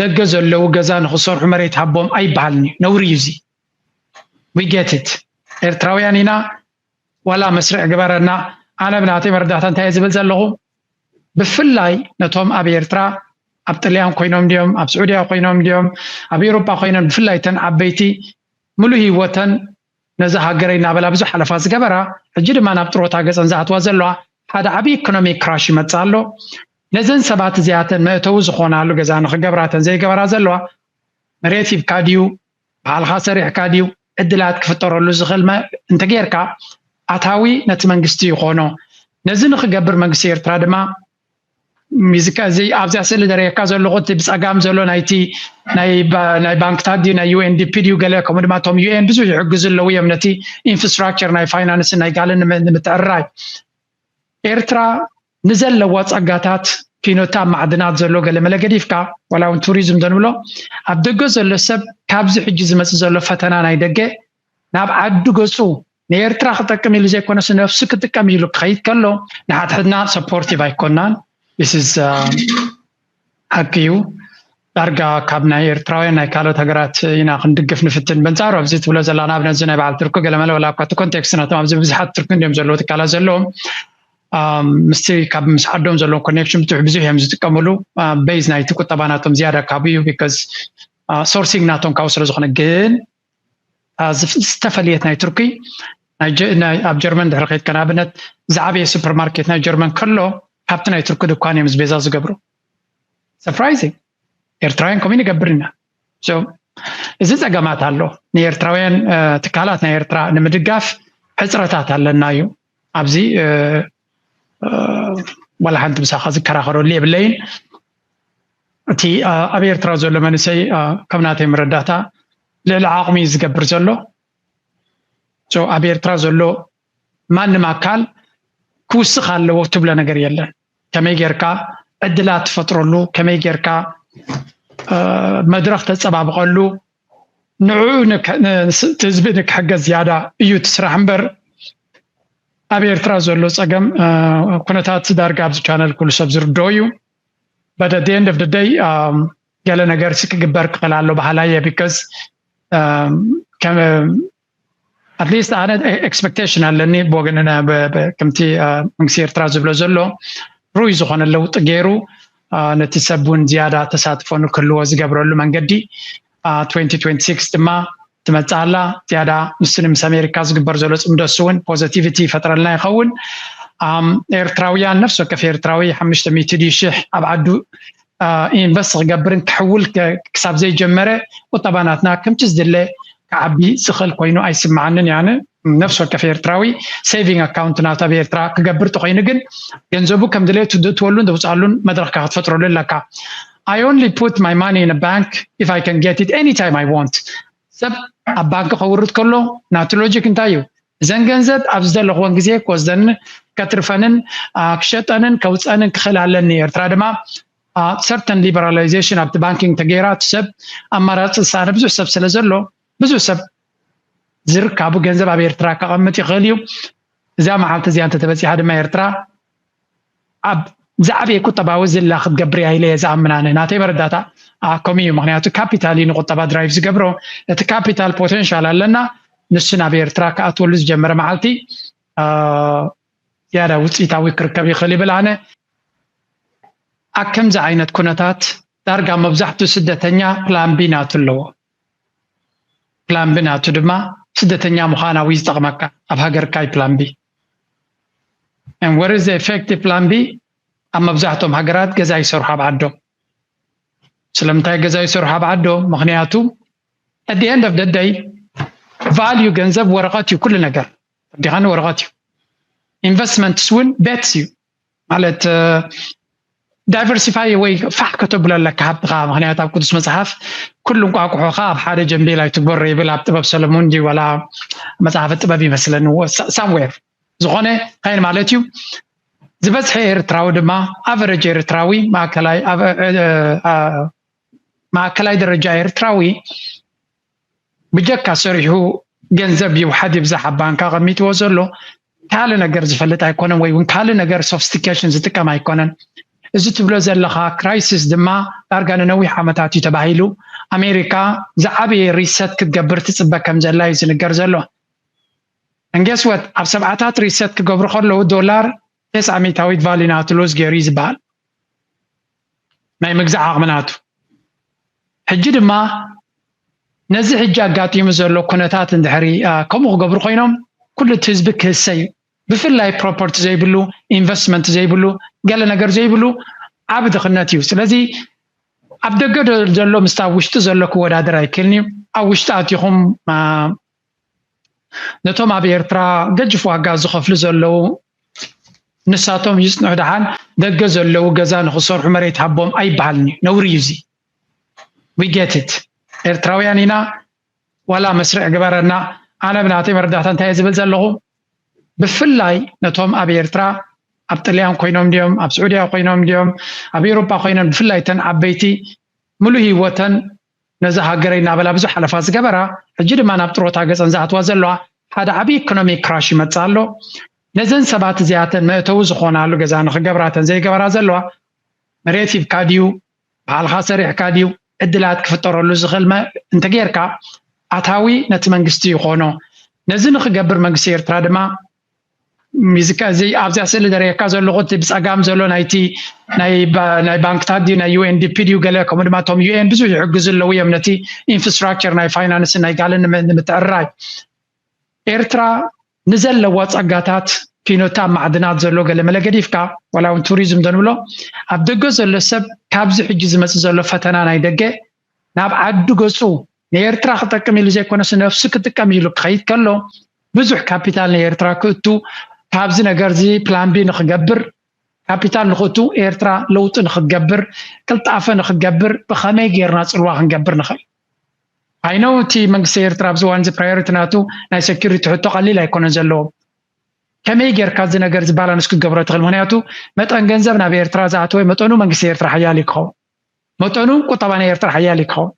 ደገ ዘለዉ ገዛ ንክሰርሑ መሬት ሃቦም ኣይበሃልን እዩ ነውሪ እዩ እዚ ዊጌትት ኤርትራውያን ኢና ዋላ መስርዕ ግበረና ኣነ ብናተይ መረዳእታ እንታይ ዝብል ዘለኹ ብፍላይ ነቶም ኣብ ኤርትራ ኣብ ጥልያን ኮይኖም ድዮም ኣብ ስዑድያ ኮይኖም ድዮም ኣብ ኤውሮጳ ኮይኖም ብፍላይ ተን ዓበይቲ ምሉእ ህይወተን ነዛ ሃገረይ እናበላ ብዙሕ ሓለፋ ዝገበራ ሕጂ ድማ ናብ ጥሮታ ገጸን ዝኣትዋ ዘለዋ ሓደ ዓብይ ኢኮኖሚ ክራሽ ይመጽእ ኣሎ ነዘን ሰባት እዚኣተን መእተዊ ዝኾናሉ ገዛ ንክገብራ እተን ዘይገበራ ዘለዋ መሬት ሂብካ ድዩ ባዕልኻ ሰሪሕካ ድዩ ዕድላት ክፍጠረሉ ዝኽእል እንተጌርካ ኣታዊ ነቲ መንግስቲ ይኾኖ ነዚ ንክገብር መንግስቲ ኤርትራ ድማ ሚዚካ እዚ ኣብዚኣ ስእሊ ዘርእየካ ዘለኹ እቲ ብፀጋም ዘሎ ናይቲ ናይ ባንክታት ድዩ ናይ ዩኤንዲፒ ድዩ ገለ ከምኡ ድማ እቶም ዩኤን ብዙሕ ይሕግዙ ኣለዉ እዮም ነቲ ኢንፍራስትራክቸር ናይ ፋይናንስ ናይ ጋለ ንምትዕርራይ ኤርትራ ንዘለዎ ፀጋታት ኪኖታ ማዕድናት ዘሎ ገለ መለ ገዲፍካ ዋላ እውን ቱሪዝም ዘንብሎ ኣብ ደገ ዘሎ ሰብ ካብዚ ሕጂ ዝመፅእ ዘሎ ፈተና ናይ ደገ ናብ ዓዱ ገፁ ንኤርትራ ክጠቅም ኢሉ ዘይኮነስ ነብሱ ክጥቀም ኢሉ ክኸይድ ከሎ ንሓድሕድና ሰፖርቲቭ ኣይኮናን ስ ሓቂ እዩ ዳርጋ ካብ ናይ ኤርትራውያን ናይ ካልኦት ሃገራት ኢና ክንድግፍ ንፍትን በንጻሩ ኣብዚ ትብሎ ዘላ ንኣብነት እዚ ናይ በዓል ቱርኪ ገለመለ ወላ እኳ እቲ ኮንቴክስት ናቶም ኣብዚ ብዙሓት ቱርኪ እንዲዮም ዘለዎ ትካላት ዘለዎም ምስቲ ካብ ምስ ዓዶም ዘለዎ ኮኔክሽን ብትሕ ብዙሕ እዮም ዝጥቀምሉ ቤዝ ናይቲ ቁጠባ ናቶም ዝያዳ ካብኡ እዩ ቢካዝ ሶርሲንግ ናቶም ካብኡ ስለ ዝኾነ ግን ዝተፈለየት ናይ ቱርኪ ኣብ ጀርመን ድሕሪ ከድካ ንኣብነት ዝዓበየ ሱፐርማርኬት ናይ ጀርመን ከሎ ካብቲ ናይ ቱርኪ ድኳን እዮም ቤዛ ዝገብሩ ሰርፕራይዚንግ ኤርትራውያን ከምኡ ንገብር ኢና እዚ ፀገማት ኣሎ ንኤርትራውያን ትካላት ናይ ኤርትራ ንምድጋፍ ሕፅረታት ኣለና እዩ ኣብዚ ዋላ ሓንቲ ምሳኻ ዝከራኸረሉ የብለይን እቲ ኣብ ኤርትራ ዘሎ መንእሰይ ካብ ናተይ መረዳእታ ልዕሊ ዓቕሚ እዩ ዝገብር ዘሎ ኣብ ኤርትራ ዘሎ ማንም ኣካል ክውስኽ ኣለዎ ትብሎ ነገር የለን ከመይ ጌርካ ዕድላት ትፈጥረሉ፣ ከመይ ጌርካ መድረኽ ተጸባብቐሉ፣ ንዕኡ እቲ ህዝቢ ንክሕገዝ ዝያዳ እዩ እቲ ስራሕ እምበር ኣብ ኤርትራ ዘሎ ጸገም ኩነታት ዳርጋ ኣብዚ ቻነል ኩሉ ሰብ ዝርድኦ እዩ but at the end of the day um, ገለ ነገር ሲ ክግበር ክኽእል ኣሎ በሃላይ እየ ቢካዝ um, ኣትሊስት ኣነ ኤክስፐክቴሽን ኣለኒ ብወገን ከምቲ መንግስቲ ኤርትራ ዝብሎ ዘሎ ርኡይ ዝኾነ ለውጢ ገይሩ ነቲ ሰብ እውን ዝያዳ ተሳትፎ ንክህልዎ ዝገብረሉ መንገዲ 2026 ድማ ትመፅእ ኣላ ዝያዳ ንስኒ ምስ ኣሜሪካ ዝግበር ዘሎ ፅምዶ እሱ እውን ፖዘቲቪቲ ይፈጥረልና ይኸውን ኤርትራውያን ነፍሲ ወከፍ ኤርትራዊ ሓሙሽተ ሚእቲ ሽሕ ኣብ ዓዱ ኢንቨስት ክገብርን ክሕውል ክሳብ ዘይጀመረ ቁጠባ ናትና ከምቲ ዝድለ ክዓቢ ዝኽእል ኮይኑ ኣይስምዓንን እየ ኣነ ነፍሲ ወከፍ ኤርትራዊ ሴቪንግ ኣካውንት ናብታ ብኤርትራ ክገብር ተኮይኑ ግን ገንዘቡ ከም ድሌቱ ዝእትወሉን ዘውፅኣሉን መድረኽካ ክትፈጥረሉ ኣለካ I only put my money in a bank if I can get it anytime I want ሰብ ኣብ ባንኪ ከውርድ ከሎ ናቲ ሎጂክ እንታይ እዩ እዘን ገንዘብ ኣብ ዝደለኹወን ግዜ ክወስደን ከትርፈንን ክሸጠንን ከውፀንን ክኽእል ኣለኒ ኤርትራ ድማ ሰርተን ሊበራላይዜሽን ኣብቲ ባንኪንግ ተገይራ እቲ ሰብ ኣማራፂ ዝሰኣነ ብዙሕ ሰብ ስለ ዘሎ ብዙሕ ሰብ ዝርካቡ ገንዘብ ኣብ ኤርትራ ከቐምጥ ይኽእል እዩ እዛ መዓልቲ እዚኣ እንተተበፂሓ ድማ ኤርትራ ኣብ ዝዓበየ ቁጠባዊ ዝላ ክትገብር እያ ኢለ እየ ዝኣምን ኣነ ናተይ መረዳእታ ኣኮም እዩ ምክንያቱ ካፒታል እዩ ንቁጠባ ድራይቭ ዝገብሮ እቲ ካፒታል ፖቴንሻል ኣለና ንሱ ናብ ኤርትራ ክኣትወሉ ዝጀመረ መዓልቲ ዝያዳ ውፅኢታዊ ክርከብ ይኽእል ይብል ኣነ ኣብ ከምዚ ዓይነት ኩነታት ዳርጋ መብዛሕትኡ ስደተኛ ፕላን ቢ ናቱ ኣለዎ ፕላን ቢ ናቱ ድማ ስደተኛ ምዃን ኣብዩ ዝጠቕመካ ኣብ ሃገርካ ዩ ፕላን ቢ and what is the effect ፕላን ቢ ኣብ መብዛሕትኦም ሃገራት ገዛ ይሰርሑ ኣብ ዓዶም ስለምንታይ ገዛ ይሰርሑ ኣብ ዓዶም ምክንያቱ at the end of the day value ገንዘብ ወረቐት እዩ ኩሉ ነገር ወዲኻ ንወረቐት እዩ ኢንቨስትመንትስ እውን ቤትስ እዩ ማለት ዳይቨርሲፋይ ወይ ፋሕ ከተብሎ ኣለካ ሃብትኻ ምክንያት ኣብ ቅዱስ መጽሓፍ ኩሉ እንቋቁሖኻ ኣብ ሓደ ጀንቤል ኣይትግበሮ ይብል ኣብ ጥበብ ሰለሞን ዲ ዋላ መጽሓፈ ጥበብ ይመስለኒ ሳምዌር ዝኾነ ካይን ማለት እዩ ዝበዝሐ ኤርትራዊ ድማ ኣቨረጅ ኤርትራዊ ማእከላይ ደረጃ ኤርትራዊ ብጀካ ሰሪሑ ገንዘብ ይውሓድ ይብዛሕ ኣብ ባንክ ኣቐሚጥዎ ዘሎ ካልእ ነገር ዝፈልጥ ኣይኮነን ወይ እውን ካልእ ነገር ሶፍስቲኬሽን ዝጥቀም ኣይኮነን እዚ ትብሎ ዘለኻ ክራይሲስ ድማ ዳርጋ ንነዊሕ ዓመታት እዩ ተባሂሉ ኣሜሪካ ዝዓበየ ሪሰት ክትገብር ትፅበ ከም ዘላ እዩ ዝንገር ዘሎ እንጌስወት ኣብ ሰብዓታት ሪሰት ክገብሩ ከለዉ ዶላር ቴስ ዓሚታዊት ቫሊ ናቱ ሎዝ ገይሩ እዩ ዝበሃል ናይ ምግዛእ ዓቕሚ ናቱ ሕጂ ድማ ነዚ ሕጂ ኣጋጢሙ ዘሎ ኩነታት እንድሕሪ ከምኡ ክገብሩ ኮይኖም ኩሉ እቲ ህዝቢ ክህሰ እዩ ብፍላይ ፕሮፐርቲ ዘይብሉ ኢንቨስትመንት ዘይብሉ ገለ ነገር ዘይብሉ ዓብ ድኽነት እዩ ስለዚ ኣብ ደገ ዘሎ ምስታ ኣብ ውሽጢ ዘሎ ክወዳደር ኣይክእልን እዩ ኣብ ውሽጢ ኣትኹም ነቶም ኣብ ኤርትራ ገጅፍ ዋጋ ዝኸፍሉ ዘለዉ ንሳቶም ይጽንዑ ደሓን ደገ ዘለዉ ገዛ ንኽሰርሑ መሬት ሃቦም ኣይበሃልን እዩ ነውሪ እዩ እዚ ዊጌትት ኤርትራውያን ኢና ዋላ መስርዕ ግበረና ኣነ ብናተይ መረዳእታ እንታይ ዝብል ዘለኹ ብፍላይ ነቶም ኣብ ኤርትራ ኣብ ጥልያን ኮይኖም ድዮም ኣብ ስዑድያ ኮይኖም ድዮም ኣብ ኤሮፓ ኮይኖም ብፍላይ ተን ዓበይቲ ሙሉእ ህይወተን ነዛ ሃገረይ እናበላ ብዙሕ ሓለፋ ዝገበራ ሕጂ ድማ ናብ ጥሮታ ገጸን ዝኣትዋ ዘለዋ ሓደ ዓቢ ኢኮኖሚ ክራሽ ይመጽእ ኣሎ ነዘን ሰባት እዚኣተን መእተዊ ዝኾናሉ ገዛ ንኽገብራ ተን ዘይገበራ ዘለዋ መሬት ሂብካ ድዩ ባዕልኻ ሰሪሕካ ድዩ ዕድላት ክፍጠረሉ ዝኽእል እንተጌርካ ኣታዊ ነቲ መንግስቲ ይኾኖ ነዚ ንኽገብር መንግስቲ ኤርትራ ድማ እዚ ኣብዚኣ ስእሊ ዘርእየካ ዘለኹ እቲ ብፀጋም ዘሎ ናይቲ ናይ ባንክታት ድዩ ናይ ዩኤንዲፒ ድዩ ገለ ከምኡ ድማ እቶም ዩኤን ብዙሕ ይሕግዙ ኣለዉ እዮም ነቲ ኢንፍራስትራክቸር ናይ ፋይናንስ ናይ ጋልን ንምትዕርራይ ኤርትራ ንዘለዋ ፀጋታት ኪኖታ ማዕድናት ዘሎ ገለ መለ ገዲፍካ ዋላ እውን ቱሪዝም ዘንብሎ ኣብ ደገ ዘሎ ሰብ ካብዚ ሕጂ ዝመፅእ ዘሎ ፈተና ናይ ደገ ናብ ዓዱ ገፁ ንኤርትራ ክጠቅም ኢሉ ዘይኮነስ ነፍሱ ክጥቀም ኢሉ ክኸይድ ከሎ ብዙሕ ካፒታል ንኤርትራ ክእቱ ካብዚ ነገርዚ ፕላን ቢ ንክገብር ካፒታል ንክእቱ ኤርትራ ለውጢ ንክትገብር ቅልጣፈ ንክትገብር ብኸመይ ጌርና ጽልዋ ክንገብር ንኽእል ኣይነው እቲ መንግስቲ ኤርትራ ኣብዚ እዋን እዚ ፕራዮሪቲ ናቱ ናይ ሴኪሪቲ ሕቶ ቀሊል ኣይኮነን ዘለዎ ከመይ ጌርካ እዚ ነገር እዚ ባላንስ ክትገብሮ ትኽእል ምክንያቱ መጠን ገንዘብ ናብ ኤርትራ ዝኣተወ መጠኑ መንግስቲ ኤርትራ ሓያል እዩ ክኸውን መጠኑ ቁጠባ ናይ ኤርትራ ሓያል እዩ ክኸውን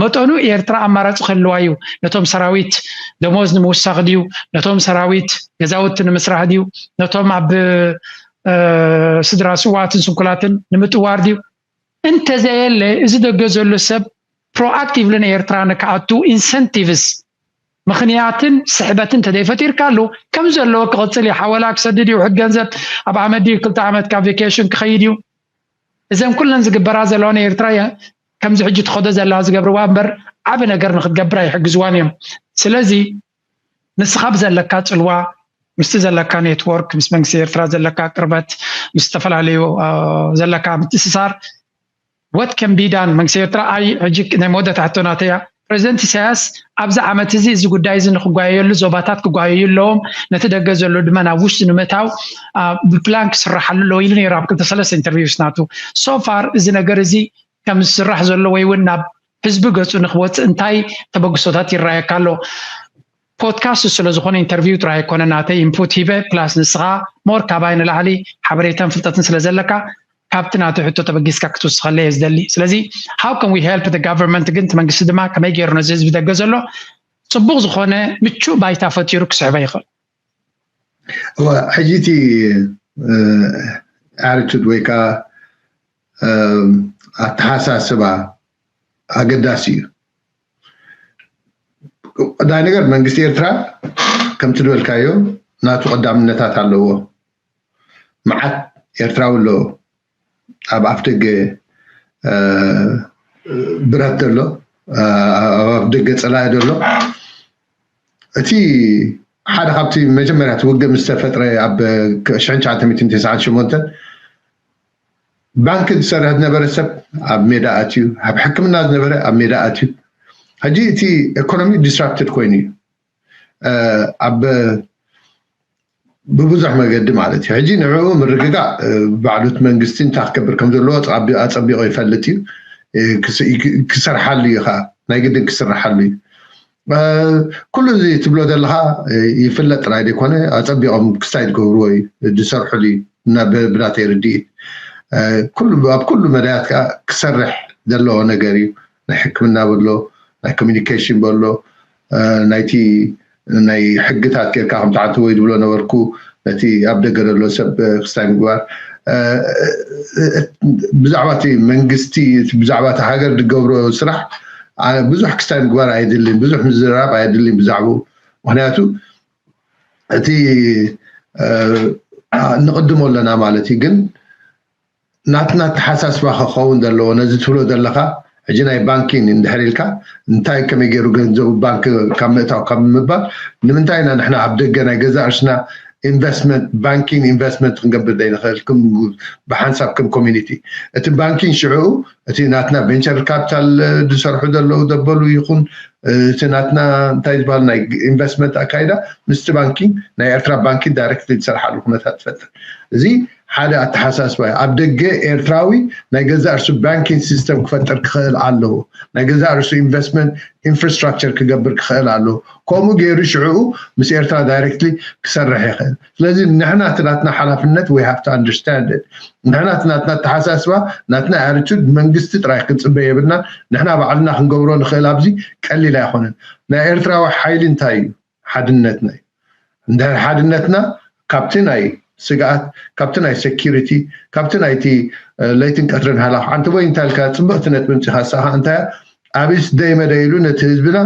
መጠኑ ኤርትራ ኣማራፂ ክህልዋ እዩ ነቶም ሰራዊት ደሞዝ ንምውሳኽ ድዩ ነቶም ሰራዊት ገዛውቲ ንምስራሕ ድዩ ነቶም ኣብ ስድራ ስዋትን ስንኩላትን ንምጥዋር ድዩ እንተዘየለ እዚ ደገ ዘሎ ሰብ ፕሮኣክቲቭሊ ንኤርትራ ንክኣቱ ኢንሰንቲቭስ ምክንያትን ስሕበትን ተደይፈጢርካሉ ከም ዘለዎ ክቕፅል እዩ ሓወላ ክሰድድ እዩ ውሕድ ገንዘብ ኣብ ዓመት ድዩ ክልተ ዓመት ካብ ቬኬሽን ክኸይድ እዩ እዘን ኩለን ዝግበራ ዘለዋ ንኤርትራ ከምዚ ሕጂ ትኸዶ ዘለዋ ዝገብርዋ እምበር ዓብ ነገር ንክትገብር ኣይሕግዝዋን እዮም ስለዚ ንስኻ ብዘለካ ጽልዋ ምስቲ ዘለካ ኔትወርክ ምስ መንግስቲ ኤርትራ ዘለካ ቅርበት ምስ ዝተፈላለዩ ዘለካ ምትእስሳር ወት ከን ቢዳን መንግስቲ ኤርትራ ኣይ ሕጂ ናይ መወዳእታ ሕቶ ናተያ ፕረዚደንት ኢሳያስ ኣብዚ ዓመት'ዚ እዚ ጉዳይ'ዚ ንኽጓየየሉ ዞባታት ክጓየዩ ኣለዎም፣ ነቲ ደገ ዘሎ ድማ ናብ ውሽጢ ንምእታው ብፕላን ክስራሓሉ ኣለዎ ኢሉ ነይሩ ኣብ ክልተ ሰለስተ ኢንተርቪውስ ናቱ። ሶ ፋር እዚ ነገር እዚ ከም ዝስራሕ ዘሎ ወይ'ውን ናብ ህዝቢ ገጹ ንኽወጽእ እንታይ ተበግሶታት ይረኣየካ ኣሎ? ፖድካስት ስለ ዝኾነ ኢንተርቪው ጥራይ ኣይኮነ ናተይ ኢንፑት ሂበ ፕላስ ንስኻ ሞር ካባይ ንላዕሊ ሓበሬታን ፍልጠትን ስለ ዘለካ ካብቲ ናተይ ሕቶ ተበጊስካ ክትውስኸለይ እየ ዝደሊ ስለዚ ሃው ከም ዊ ሄልፕ ደ ጋቨርንመንት ግን እቲ መንግስቲ ድማ ከመይ ገይሩ ነዚ ህዝቢ ደገ ዘሎ ፅቡቕ ዝኾነ ምቹእ ባይታ ፈጢሩ ክስዕበ ይኽእል እወ ሕጂ እቲ ኣርቱድ ወይ ከዓ ኣተሓሳስባ ኣገዳሲ እዩ ቀዳማይ ነገር መንግስቲ ኤርትራ ከምቲ ዝበልካዮ ናቱ ቀዳምነታት ኣለዎ መዓት ኤርትራዊ ኣሎ ኣብ ኣፍ ደገ ብረት ዘሎ ኣብ ኣፍ ደገ ፀላኢ ዘሎ እቲ ሓደ ካብቲ መጀመርያ እቲ ውግእ ምስ ተፈጥረ ኣብ 1998 ባንኪ ዝሰርሕ ዝነበረ ሰብ ኣብ ሜዳ ኣትዩ ኣብ ሕክምና ዝነበረ ኣብ ሜዳ ኣትዩ ሕጂ እቲ ኤኮኖሚ ዲስራፕትድ ኮይኑ እዩ ኣብ ብብዙሕ መገዲ ማለት እዩ ሕጂ ንዕኡ ምርግጋእ ባዕሉት መንግስቲ እንታይ ክገብር ከም ዘለዎ ኣፀቢቑ ይፈልጥ እዩ ክሰርሓሉ እዩ ከዓ ናይ ግድን ክስርሓሉ እዩ ኩሉ እዚ ትብሎ ዘለካ ይፍለጥ ጥራይ ዘይኮነ ኣጸቢቆም ክስታይ ዝገብርዎ እዩ ዝሰርሕሉ እዩ እና ብናተይ ርድኢት ኩሉ ኣብ ኩሉ መዳያት ከዓ ክሰርሕ ዘለዎ ነገር እዩ ናይ ሕክምና በሎ ናይ ኮሚኒኬሽን በሎ ናይቲ ናይ ሕግታት ጌርካ ከምቲ ሓንቲ ወይ ዝብሎ ነበርኩ ነቲ ኣብ ደገ ዘሎ ሰብ ክስታይ ምግባር ብዛዕባ እቲ መንግስቲ ብዛዕባ እቲ ሃገር ዝገብሮ ስራሕ ብዙሕ ክስታይ ምግባር ኣየድልን ብዙሕ ምዝርራብ ኣየድልን ብዛዕባኡ ምክንያቱ እቲ ንቕድሞ ኣለና ማለት እዩ ግን ናትና ኣተሓሳስባ ከከውን ዘለዎ ነዚ ትብሎ ዘለካ ሕጂ ናይ ባንኪ እንድሕር ኢልካ እንታይ ከመይ ገይሩ ገንዘቡ ባንኪ ካብ ምእታው ካብ ምባል ንምንታይ ኢና ንሕና ኣብ ደገ ናይ ገዛእ ርእስና Investment Banking Investment ክንገብር ዘይንክእል ብሓንሳብ ከም Community እቲ ባንኪን ሽዕኡ እቲ ናትና Venture Capital ዝሰርሑ ዘለዉ ዘበሉ ይኩን እቲ ናትና እንታይ ዝበሃል ናይ Investment ኣካይዳ ምስቲ ባንኪን ናይ ኤርትራ ባንኪን Directly ዝሰርሓሉ ኩነታት ትፈጥር እዚ ሓደ ኣተሓሳስባ'ዩ። ኣብ ደገ ኤርትራዊ ናይ ገዛእ ርእሱ ባንኪን ሲስተም ክፈጥር ክኸእል ኣለዎ። ናይ ገዛእ ርእሱ ኢንቨስትመንት ኢንፍራስትራክቸር ክገብር ክኸእል ኣለዎ። ከምኡ ገይሩ ሽዕኡ ምስ ኤርትራ ዳይረክትሊ ክሰርሕ ይኸእል። ስለዚ ንሕና እቲ ናትና ሓላፍነት we have to understand it ንሕና እቲ ናትና ኣተሓሳስባ ናትና ኣርቱድ መንግስቲ ጥራይ ክንጽበ የብልናን ንሕና ባዕልና ክንገብሮ ንኸእል ኣብዚ ቀሊል ኣይኮነን። ናይ ኤርትራዊ ሓይሊ እንታይ'ዩ? ሓድነትና እዩ እንድሕር ሓድነትና ካብቲ ናይ ስግኣት ካብቲ ናይ ሰኪሪቲ ካብቲ ናይቲ ለይትን ቀትርን ሃላኽ ዓንተቦይ እንታይ ኢልካ ፅብቕቲ ነጥቢ ምፂኻ ንሳ ከዓ እንታይ ኣብስ ደይመደይ ኢሉ ነቲ ህዝብና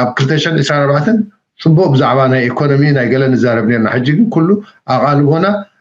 ኣብ 224 ፅቡቅ ብዛዕባ ናይ ኢኮኖሚ ናይ ገለ ንዛረብ ነርና ሕጂ ግን ኩሉ ኣቓልቦና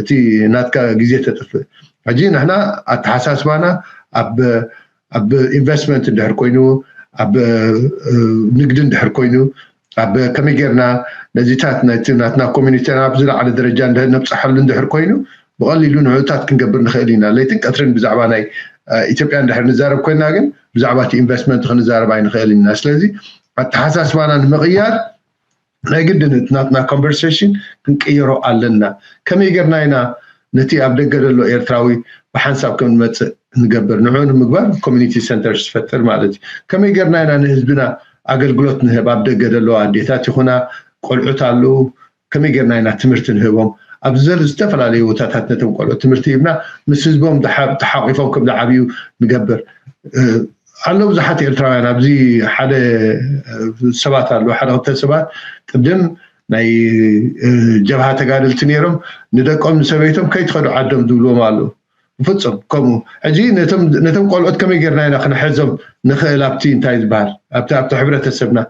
እቲ ናትካ ግዜ ተጥፍእ ሕጂ ንሕና ኣተሓሳስባና ኣብ ኣብ ኢንቨስትመንት እንድሕር ኮይኑ ኣብ ንግዲ እንድሕር ኮይኑ ኣብ ከመይ ጌርና ነዚታት ናይቲ ናትና ኮሚኒቲ ናብ ዝለዓለ ደረጃ ነብፅሓሉ እንድሕር ኮይኑ ብቐሊሉ ንዕኡታት ክንገብር ንኽእል ኢና ለይትን ቀትርን ብዛዕባ ናይ ኢትዮጵያ እንድሕር ንዛረብ ኮይና ግን ብዛዕባ እቲ ኢንቨስትመንት ክንዛረብ ኣይንኽእል ኢና ስለዚ ኣተሓሳስባና ንምቕያር ናይ ግድን እቲ ናትና ኮንቨርሴሽን ክንቅይሮ ኣለና። ከመይ ጌርና ኢና ነቲ ኣብ ደገ ዘሎ ኤርትራዊ ብሓንሳብ ከም ዝመጽእ እንገብር? ንዕኡ ንምግባር ኮሚኒቲ ሰንተርስ ትፈጥር ማለት እዩ። ከመይ ጌርና ኢና ንህዝብና ኣገልግሎት ንህብ? ኣብ ደገ ዘለዋ ኣዴታት ይኹና ቆልዑት ኣለዉ፣ ከመይ ጌርና ኢና ትምህርቲ ንህቦም? ኣብዚ ዘሎ ዝተፈላለዩ ቦታታት ነቶም ቆልዑት ትምህርቲ ሂብና ምስ ህዝቦም ተሓቂፎም ከም ዝዓብዩ ንገብር። ኣሎ ብዙሓት ኤርትራውያን ኣብዚ ሓደ ሰባት ኣሉ ሓደ ክልተ ሰባት ቅድም ናይ ጀብሃ ተጋደልቲ ነይሮም ንደቆም ንሰበይቶም ከይትኸዱ ዓዶም ዝብልዎም ኣሉ ብፍፁም ከምኡ ሕጂ ነቶም ቆልኦት ከመይ ጌርና ኢና ክንሕዞም ንኽእል ኣብቲ እንታይ ዝበሃል ኣብቲ ኣብቲ ሕብረተሰብና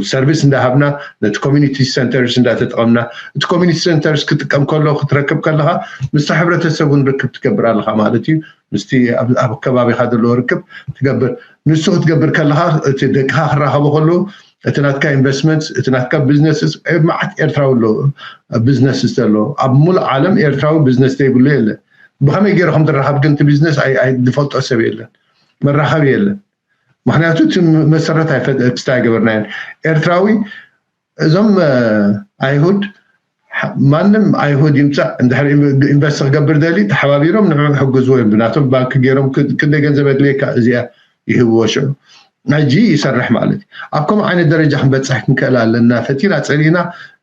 ሰርቪስ እንዳሃብና ነቲ ኮሚኒቲ ሰንተርስ እንዳተጠቐምና እቲ ኮሚኒቲ ሰንተርስ ክጥቀም ከሎ ክትረክብ ከለኻ ምስቲ ሕብረተሰብ እውን ርክብ ትገብር ኣለኻ ማለት እዩ ምስቲ ኣብ ከባቢኻ ዘለዎ ርክብ ትገብር ንሱ ክትገብር ከለኻ እቲ ደቅኻ ክራኸቦ ከሉ እቲ ናትካ ኢንቨስትመንት እቲ ናትካ ቢዝነስ መዓት ኤርትራዊ ኣሎ ቢዝነስ ዘሎ ኣብ ሙሉእ ዓለም ኤርትራዊ ቢዝነስ ዘይብሉ የለ ብኸመይ ገይሩ ከም ዝራኸብ ግን እቲ ቢዝነስ ዝፈልጦ ሰብ የለን መራኸቢ የለን ምክንያቱ እቲ መሰረት ክስታይ ኣይገበርናዮን ኤርትራዊ እዞም ኣይሁድ ማንም ኣይሁድ ይምፃእ እንድሕር ኢንቨስት ክገብር ደሊ ተሓባቢሮም ንዑ ሕግዝዎ እዮም ብናቶም ባንኪ ገይሮም ክንደይ ገንዘብ የድልየካ እዚኣ ይህብዎ ሽዑ ሕጂ ይሰርሕ ማለት እዩ ኣብ ከምኡ ዓይነት ደረጃ ክንበፅሕ ክንክእል ኣለና ፈቲና ፀሊእና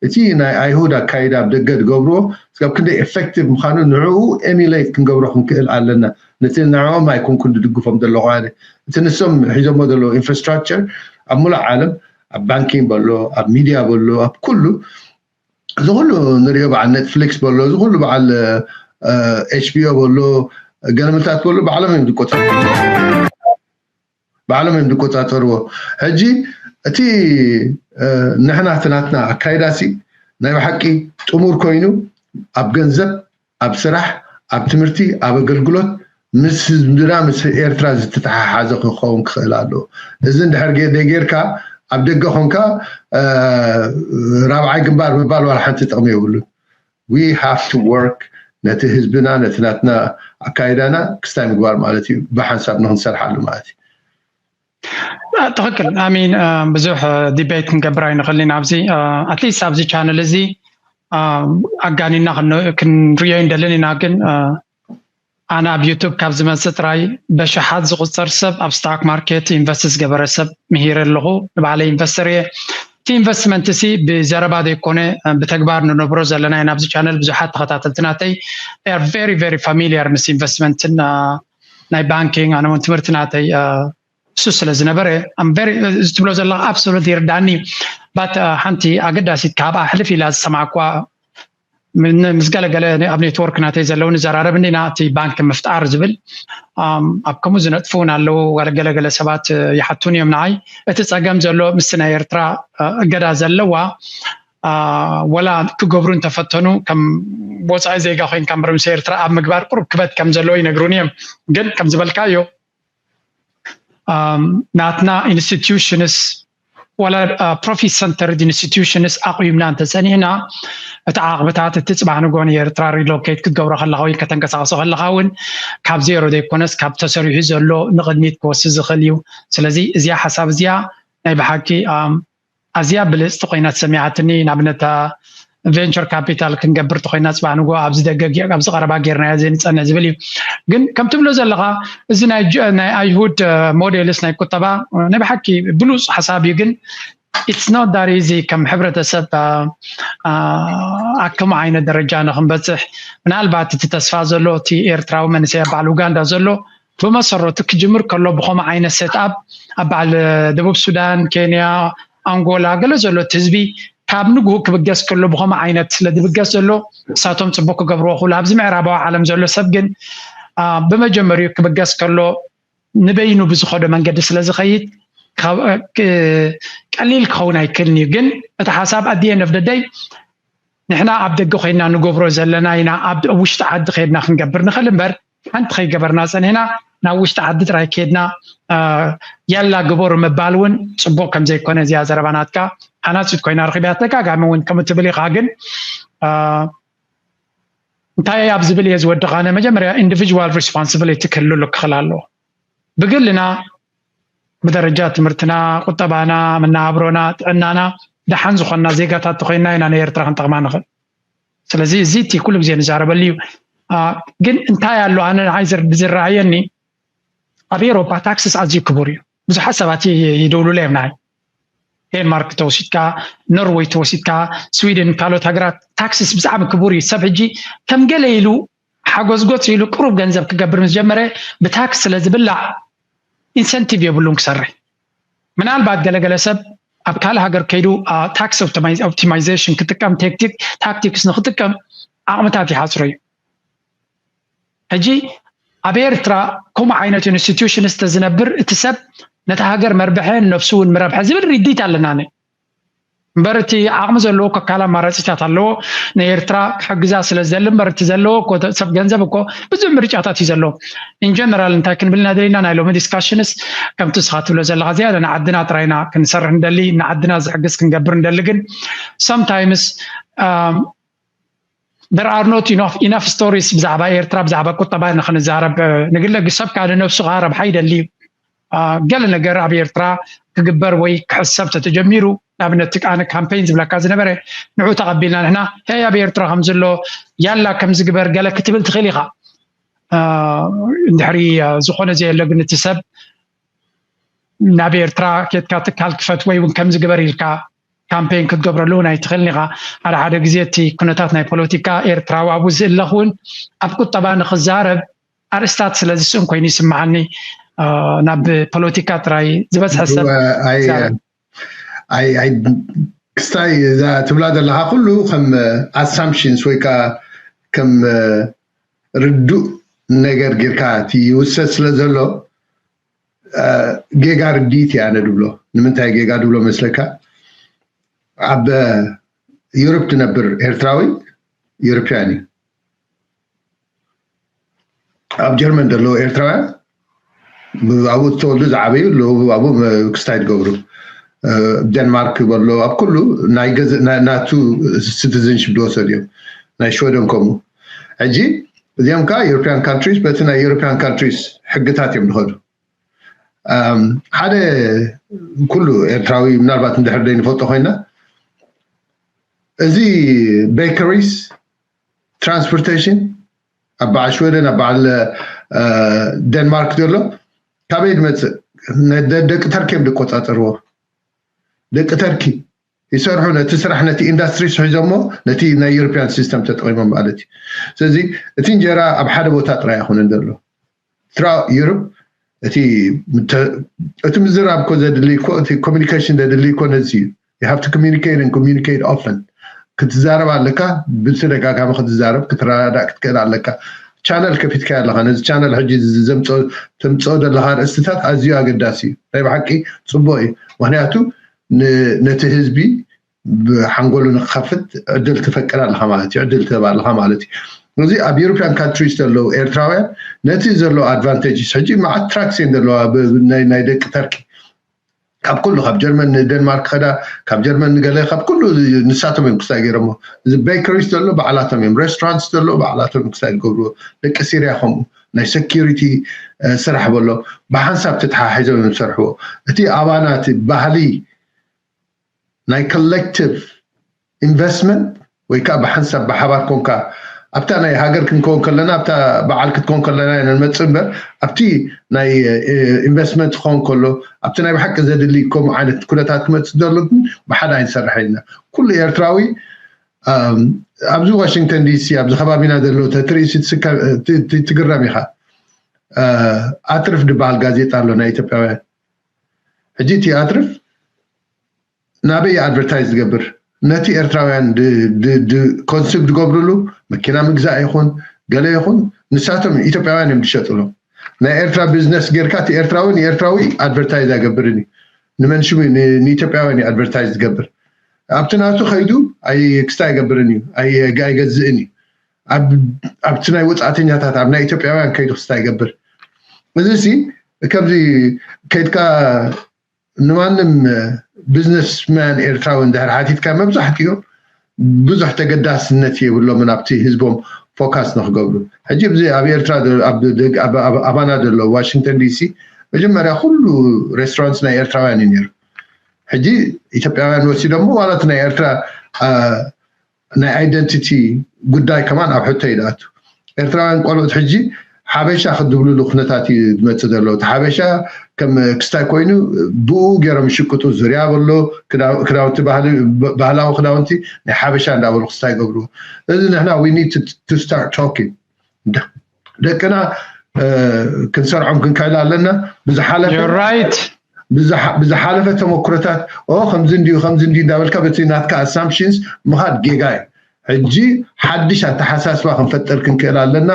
እቲ ናይ ኣይሁድ ኣካይዳ ኣብ ደገ ዝገብርዎ ስብ ክንደይ ኤፌክቲቭ ምዃኑ ንዕኡ ኤሚሌት ክንገብሮ ክንክእል ኣለና ነቲ ንዕኦም ኣይኮንኩን ዝድግፎም ዘለኹ ኣነ እቲ ንሶም ሒዞሞ ዘለዉ ኢንፍራስትራክቸር ኣብ ሙሉእ ዓለም ኣብ ባንኪ በሎ ኣብ ሚድያ በሎ ኣብ ኩሉ እዚ ኩሉ ንሪኦ በዓል ኔትፍሊክስ በሎ እዚ ኩሉ በዓል ኤችቢኦ በሎ ገለመታት በሎ ባዕሎም እዮም ዝቆፃ ባዕሎም እዮም ዝቆፃፀርዎ ሕጂ እቲ ንሕና እቲ ናትና ኣካይዳሲ ናይ ብሓቂ ጥሙር ኮይኑ ኣብ ገንዘብ ኣብ ስራሕ፣ ኣብ ትምህርቲ፣ ኣብ ኣገልግሎት ምስ ህዝብና ምስ ኤርትራ ዝተተሓሓዘ ክኸውን ክኽእል ኣለዎ። እዚ እንድሕር ዘይጌርካ ኣብ ደገ ኮንካ ራብዓይ ግንባር ምባል ዋላ ሓንቲ ጥቕሚ የብሉን። We have to work ነቲ ህዝብና ነቲ ናትና ኣካይዳና ክስታይ ምግባር ማለት እዩ። ብሓንሳብ ንክንሰርሓሉ ማለት እዩ። ትክክል ኣሚን ብዙሕ ዲቤት ክንገብር ኣይንኽእል ኢና ኣብዚ ኣትሊስት ኣብዚ ቻነል እዚ ኣጋኒና ክንሪኦ ይንደልን ኢና ግን ኣነ ኣብ ዩቱብ ካብ ዝመፅእ ጥራይ በሽሓት ዝቁፀር ሰብ ኣብ ስታክ ማርኬት ኢንቨስት ዝገበረ ሰብ ምሂረ ኣለኹ ንባዕለይ ኢንቨስተር እየ እቲ ኢንቨስትመንት እዚ ብዘረባ ዘይኮነ ብተግባር ንነብሮ ዘለና ኢና ኣብዚ ቻነል ብዙሓት ተኸታተልቲ ናተይ ር ቨሪ ቨሪ ፋሚሊየር ምስ ኢንቨስትመንትን ናይ ባንኪንግ ኣነ እውን ትምህርቲ ናተይ እሱ ስለ ዝነበረ እዚ ትብሎ ዘለካ ኣብሶሉት ይርዳኒ ባት ሓንቲ ኣገዳሲት ካብኣ ሕልፍ ኢላ ዝሰማዕኳ ምስ ገለገለ ኣብ ኔትወርክ ናተይ ዘለዉ ንዘራረብ እንዲና እቲ ባንኪ ምፍጣር ዝብል ኣብ ከምኡ ዝነጥፉ እውን ኣለዉ ገለገለ ሰባት ይሓቱን እዮም ንዓይ እቲ ፀገም ዘሎ ምስ ናይ ኤርትራ እገዳ ዘለዋ ወላ ክገብሩ እንተፈተኑ ከም ወፃኢ ዜጋ ኮይንካ ምበር ምስ ኤርትራ ኣብ ምግባር ቁሩብ ክበት ከም ዘለዎ ይነግሩኒ እዮም ግን ከም ዝበልካዮ ናትና ኢንስቲትዩሽንስ ዋላ ፕሮፊት ሰንተርድ ኢንስቲትዩሽንስ ኣቑምና እንተፀኒዕና እቲ ዓቕብታት እቲ ፅባሕ ንግሆ ንኤርትራ ሪሎኬት ክትገብሮ ከለካ ወይ ከተንቀሳቕሶ ከለካ እውን ካብ ዜሮ ዘይኮነስ ካብ ተሰሪሑ ዘሎ ንቕድሚት ክወስድ ዝኽእል እዩ ስለዚ እዚኣ ሓሳብ እዚኣ ናይ ብሓቂ ኣዝያ ብልጽቲ ኮይና ተሰሚዓትኒ ንኣብነት እታ ቬንቸር ካፒታል ክንገብር ተኮይና ጽባሕ ንጎ ኣብዚ ደገ ኣብዚ ቀረባ ጌርናዮ ዘይንጸንዕ ዝብል እዩ ግን ከም ትብሎ ዘለካ እዚ ናይ ናይ ኣይሁድ ሞዴልስ ናይ ቁጠባ ናይ ብሓቂ ብሉጽ ሓሳብ እዩ ግን ኢትስ ኖት ዳት ኢዚ ከም ሕብረተሰብ ኣከም ዓይነት ደረጃ ንክንበጽሕ ምናልባት እቲ ተስፋ ዘሎ እቲ ኤርትራዊ መንእሰይ ኣብ በዓል ኡጋንዳ ዘሎ ብመሰረቱ ክጅምር ከሎ ብኸምኡ ዓይነት ሴትኣፕ ኣብ በዓል ደቡብ ሱዳን፣ ኬንያ፣ ኣንጎላ ገለ ዘሎ እቲ ህዝቢ ካብ ንግሁ ክብገስ ከሎ ብኸምኡ ዓይነት ስለ ዝብገስ ዘሎ ንሳቶም ጽቡቕ ክገብርዎ ክብሉ ኣብዚ ምዕራባዊ ዓለም ዘሎ ሰብ ግን ብመጀመሪኡ ክብገስ ከሎ ንበይኑ ብዝኸዶ መንገዲ ስለ ዝኸይድ ቀሊል ክኸውን ኣይክልን እዩ ግን እቲ ሓሳብ ኣዲኤ ነፍደደይ ንሕና ኣብ ደገ ኮይና ንገብሮ ዘለና ኢና ኣብ ውሽጢ ዓዲ ከድና ክንገብር ንኽእል እምበር ሓንቲ ከይገበርና ፀኒሕና ናብ ውሽጢ ዓዲ ጥራይ ከድና ያላ ግበሩ ምባል እውን ፅቡቅ ከም ዘይኮነ እዚኣ ዘረባ ናትካ ሓናፂት ኮይና ረኪብያ ተጋጋሚ እውን ከም እትብል ኢካ ግን እንታይ ኣብ ዝብል እየ ዝወድቕ ኣነ መጀመርያ ኢንዲቪጅዋል ሪስፖንሲቢሊቲ ክህልሉ ክኽል ኣለዎ ብግልና ብደረጃ ትምህርትና ቁጠባና መናብሮና ጥዕናና ደሓን ዝኾንና ዜጋታት ተኮይንና ኢና ንኤርትራ ክንጠቕማ ንኽእል ስለዚ እዚ እቲ ኩሉ ግዜ ንዛረበሉ እዩ ግን እንታይ ኣሎ ኣነ ንዓይ ዝረኣየኒ ኣብ ኤሮፓ ታክስስ ኣዝዩ ክቡር እዩ ብዙሓት ሰባት ይደውሉለ እዮም ንዓይ ዴንማርክ ተወሲድካ ኖርወይ ተወሲድካ ስዊድን ካልኦት ሃገራት ታክስስ ብዛዕሚ ክቡር እዩ ሰብ ሕጂ ከም ገለ ኢሉ ሓጎዝጎዝ ኢሉ ቅሩብ ገንዘብ ክገብር ምስ ጀመረ ብታክስ ስለ ዝብላዕ ኢንሰንቲቭ የብሉን ክሰርሕ ምናልባት ገለገለ ሰብ ኣብ ካልእ ሃገር ከይዱ ታክስ ኦፕቲማይዜሽን ክጥቀም ታክቲክስ ንክጥቀም ዓቕምታት ይሓፅሮ እዩ ሕጂ ኣብ ኤርትራ ከምኡ ዓይነት ኢንስቲትዩሽን ዝተዝነብር እቲ ሰብ ነቲ ሃገር መርብሐ ነፍሱ እውን ምረብሐ ዝብል ርዲት ኣለና እምበር እቲ ዓቕሚ ዘለዎ ከካል ኣማራፂታት ኣለዎ ንኤርትራ ክሕግዛ ስለ ዝደሊ እምበር እቲ ዘለዎ እኮ ሰብ ገንዘብ እኮ ብዙሕ ምርጫታት እዩ ዘለዎ ኢንጀነራል እንታይ ክንብል ናደለና ናይ ሎሚ ዲስካሽንስ ከምቲ ንስኻ ትብሎ ዘለኻ ዝያዳ ንዓድና ጥራይ ኢና ክንሰርሕ ንደሊ ንዓድና ዝሕግዝ ክንገብር ንደሊ ግን ሰምታይምስ there are not enough enough stories ብዛዕባ ኤርትራ ብዛዕባ ቁጠባ ኢና ክንዛረብ ንግለ ሰብ ካለ ነብሱ ከዓ ረብሓ ይደሊ እዩ ገለ ነገር ኣብ ኤርትራ ክግበር ወይ ክሕሰብ ተተጀሚሩ ንኣብነት ኣነ ካምፔይን ዝብለካ ዝነበረ ንዑ ተቐቢልና ንሕና ሄይ ኣብ ኤርትራ ከም ዘሎ ያላ ከም ዝግበር ገለ ክትብል ትኽእል ኢኻ እንድሕሪ ዝኾነ ዘየለ ግን እቲ ሰብ ናብ ኤርትራ ኬትካ ትካል ክፈት ወይ እውን ከምዚ ግበር ኢልካ ካምፔን ክትገብረሉ እውን ኣይትኽእልን ኢኻ ሓደ ሓደ ግዜ እቲ ኩነታት ናይ ፖለቲካ ኤርትራዊ ኣብኡ ዝእለኽ እውን ኣብ ቁጠባ ንክዛረብ ኣርእስታት ስለ ዝስእን ኮይኑ ይስምዓኒ ናብ ፖለቲካ ጥራይ ዝበዝሐ ሰብ ክስታይ እዛ ትብላ ዘለካ ኩሉ ከም ኣሳምፕሽንስ ወይ ከዓ ከም ርዱእ ነገር ጌርካ እቲ ይውሰድ ስለ ዘሎ ጌጋ ርድኢት እየ ኣነ ድብሎ ንምንታይ ጌጋ ድብሎ መስለካ ኣብ ዩሮፕ ትነብር ኤርትራዊ ዩሮፕያን እዩ ኣብ ጀርመን ዘለዉ ኤርትራውያን ኣብኡ ዝተወልዱ ዝዓበዩ ኣለዉ ኣብኡ ክስታይ ትገብሩ ደንማርክ በሎ ኣብ ኩሉ ናይ ናቱ ሲቲዝንሽፕ ዝወሰዱ እዮም ናይ ሽወደን ከምኡ ሕጂ እዚኦም ከዓ ኤሮፒያን ካንትሪስ በቲ ናይ ኤሮፒያን ካንትሪስ ሕግታት እዮም ዝኸዱ ሓደ ኩሉ ኤርትራዊ ምናልባት እንድሕር ዘይንፈልጦ ኮይና እዚ ቤከሪስ ትራንስፖርቴሽን ኣብ በዓል ሽወደን ኣብ በዓል ደንማርክ ዘሎ ካበይ ዝመፅእ ደቂ ተርኪ እዮም ዝቆፃፀርዎ ደቂ ተርኪ ይሰርሑ ነቲ ስራሕ ነቲ ኢንዳስትሪ ስሒዞሞ ነቲ ናይ ዩሮፒያን ሲስተም ተጠቂሞም ማለት እዩ ስለዚ እቲ እንጀራ ኣብ ሓደ ቦታ ጥራይ ኣይኮነን ዘሎ ኤርትራ ዩርፕ እቲ እቲ ምዝራብ እኮ ዘድሊ እኮ እቲ ኮሚኒኬሽን ዘድሊ እኮ ነዚ እዩ you have to communicate and communicate often ክትዛረብ ኣለካ ብተደጋጋሚ ክትዛረብ ክትረዳዳእ ክትክእል ኣለካ ቻነል ከፊትካ ኣለካ ነዚ ቻነል ሕጂ ተምፅኦ ዘለካ ርእስትታት ኣዝዩ ኣገዳሲ እዩ ናይ ብሓቂ ፅቡቅ እዩ ምክንያቱ ነቲ ህዝቢ ብሓንጎሉ ንክኸፍት ዕድል ትፈቅድ ኣለኻ ማለት እዩ ዕድል ትህብ ኣለኻ ማለት እዩ እዚ ኣብ ዩሮፒያን ካንትሪስ ዘለዉ ኤርትራውያን ነቲ ዘሎ ኣድቫንቴጅስ ሕጂ መዓት ትራክስ እየን ዘለዋ ናይ ደቂ ተርኪ ካብ ኩሉ ካብ ጀርመን ንደንማርክ ከዳ ካብ ጀርመን ንገለ ካብ ኩሉ ንሳቶም እዮም ክስታይ ገይሮሞ እዚ ቤከሪስ ዘሎ ባዕላቶም እዮም ሬስቶራንትስ ዘሎ ባዕላቶም ክስታይ ዝገብርዎ ደቂ ሲርያ ከምኡ ናይ ሰኪሪቲ ስራሕ በሎ ብሓንሳብ ተተሓሒዞም እዮም ዝሰርሕዎ እቲ ኣባና እቲ ባህሊ ናይ ኮሌክቲቭ ኢንቨስትመንት ወይ ከዓ ብሓንሳብ ብሓባር ኮንካ ኣብታ ናይ ሃገር ክንከውን ከለና ኣብታ በዓል ክትከውን ከለና ኢና ንመፅእ እምበር ኣብቲ ናይ ኢንቨስትመንት ክኸውን ከሎ ኣብቲ ናይ ብሓቂ ዘድሊ ከምኡ ዓይነት ኩነታት ክመፅእ ዘሎ ግን ብሓደ ኣይንሰርሐን ኢና ኩሉ ኤርትራዊ ኣብዚ ዋሽንግተን ዲሲ ኣብዚ ከባቢና ዘሎ ተትርእሲ ትግረም ኢኻ ኣትርፍ ድበሃል ጋዜጣ ኣሎ ናይ ኢትዮጵያውያን ሕጂ እቲ ኣትርፍ ናበይ እዩ ኣድቨርታይዝ ዝገብር ነቲ ኤርትራውያን ኮንሱም ዝገብርሉ መኪና ምግዛእ ይኹን ገለ ይኹን ንሳቶም ኢትዮጵያውያን እዮም ዝሸጥሎም ናይ ኤርትራ ቢዝነስ ጌርካ እቲ ኤርትራዊ ንኤርትራዊ ኣድቨርታይዝ ኣይገብርን እዩ ንመን ሽሙ ንኢትዮጵያውያን እዩ ኣድቨርታይዝ ዝገብር ኣብቲ ናቱ ከይዱ ክስታ ኣይገብርን እዩ ኣይገዝእን እዩ ኣብቲ ናይ ወፃእተኛታት ኣብ ናይ ኢትዮጵያውያን ከይዱ ክስታ ይገብር እዚ ሲ ከምዚ ከይድካ ንማንም ቢዝነስ ማን ኤርትራዊ እንድሕር ሓቲትካ መብዛሕትኦም ብዙሕ ተገዳስነት የብሎምን ኣብቲ ህዝቦም ፎካስ ንክገብሩ ሕጂ እዚ ኣብ ኤርትራ ኣባና ዘሎ ዋሽንግተን ዲሲ መጀመርያ ኩሉ ሬስቶራንት ናይ ኤርትራውያን እዩ ነይሩ ሕጂ ኢትዮጵያውያን ወሲዶሞ ዋላ እቲ ናይ ኤርትራ ናይ ኣይደንቲቲ ጉዳይ ከማን ኣብ ሕቶ እዩ ድኣቱ። ኤርትራውያን ቆልዑት ሕጂ ሓበሻ ክድብልሉ ኩነታት እዩ ድመጽእ ዘሎ። እቲ ሓበሻ ከም ክስታይ ኮይኑ ብእኡ ጌሮም ይሽቅጡ። ዙርያ በሎ ክዳውንቲ ባህላዊ ክዳውንቲ ናይ ሓበሻ እንዳበሉ ክስታይ ይገብርዎ። እዚ ንሕና we need to start talking። ደቅና ክንሰርዖም ክንክእል ኣለና ብዝሓለፈ ተመክሮታት ከምዚ እንድዩ ከምዚ እንድዩ እንዳበልካ በቲ ናትካ ኣሳምፕሽንስ ምኻድ ጌጋ እዩ ሕጂ ሓድሽ ኣተሓሳስባ ክንፈጥር ክንክእል ኣለና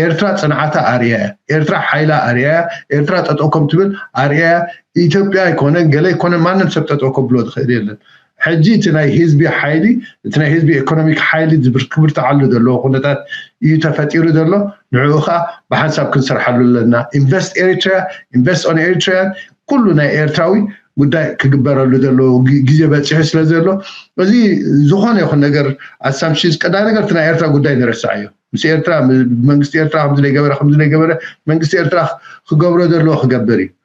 ኤርትራ ፅንዓታ ኣርያ እያ ኤርትራ ሓይላ ኣርያ እያ ኤርትራ ጠጠው ከም ትብል ኣርያ እያ ኢትዮጵያ ኣይኮነን ገለ ኣይኮነን ማንም ሰብ ጠጠው ከብሎ ዝኽእል የለን ሕጂ እቲ ናይ ህዝቢ ሓይሊ እቲ ናይ ህዝቢ ኤኮኖሚክ ሓይሊ ክብርትዓሉ ዘለዎ ኩነታት እዩ ተፈጢሩ ዘሎ ንዕኡ ከዓ ብሓንሳብ ክንሰርሓሉ ኣለና ኢንቨስት ኤሪትሪያ ኢንቨስት ኦን ኤሪትሪያን ኩሉ ናይ ኤርትራዊ ጉዳይ ክግበረሉ ዘለዎ ግዜ በፂሑ ስለ ዘሎ እዚ ዝኾነ ይኹን ነገር ኣሳምሽንስ ቀዳሚ ነገር እቲ ናይ ኤርትራ ጉዳይ ንረስዓዮ ምስ ኤርትራ መንግስቲ ኤርትራ ከምዚ ገበረ ከምዚ ገበረ መንግስቲ ኤርትራ ክገብሮ ዘለዎ ክገብር እዩ